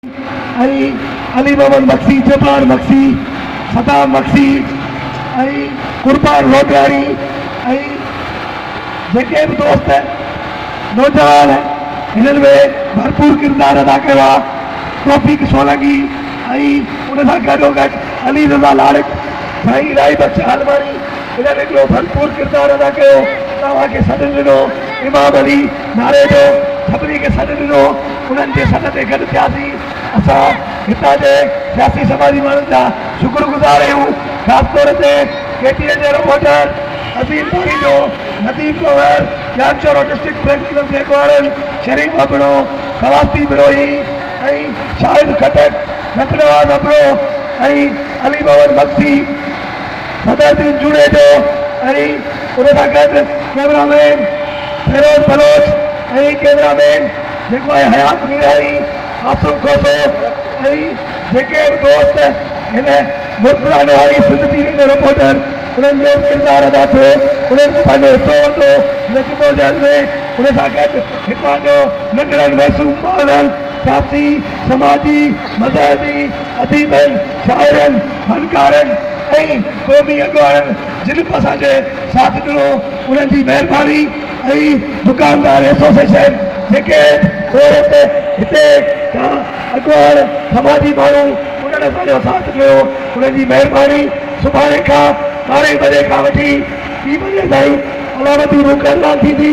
۽ علي محمد مگسي، جبار مگسي، صدام مگسي ۽ قربان لوڌياڻي ۽ جيڪي به دوست نوجوان هنن ۾ ڀرپور ڪردار ادا ڪيو آهي توفيق سولنگي ۽ ان سان گڏوگڏ علي رضا لاڙڪ، سائين الائي بخش عالماڻي انهن هڪڙو ڀرپور ڪردار ادا ڪيو توهان کي سڏ ڏنو امام علي ناري جو ڇٻري کي سڏ ڏنو. انهن جي سڏ تي گڏ ٿياسين. اسان هتان جي سياسي سماجي ماڻهن جا شڪر گذار آهيون، خاص طور تي ڪي ٽي اين جي reporter Azeem Parejo, Nadeem Kanwar, Jamshoro district press club جي اڳواڻن شريف ابڙو، سواسدي بروهي ۽ شاهد خٽڪ، نت نواز ابڙو ۽ علي محمد مگسي. بدرالدين جوڻيجو ۽ ان سان گڏ cameraman Feroz Baloch ۽ cameraman جيڪو آهي حيات ميراڻي، عاصم کوسو ۽ جيڪي به دوست هن ملڪلاء نواري سنڌ ٽي وي ۾ رپورٽر انهن جو ڪردار ادا ٿيو انهن به پنهنجو حصو ورتو هن جدوجهد ۾ ان سان گڏ هتان جو ننڍڙن معصوم ٻارڙن سياسي، سماجي، مذهبي، اديبن. شاعرن، فنڪارن ۽ قومي اڳواڻن جن به اسان کي ساٿ ڏنو انهن جي مهرباني ۽ دڪاندار ايسوسيئيشن جيڪي عورت هتي جا اڳواڻ سماجي ماڻهو انهن اسان جو ساٿ ڏنو انهن جي مهرباني سڀاڻي کان ٻارهين بجي کان وٺي ٽي بجي تائين علامتي روڪ اعلان ٿيندي.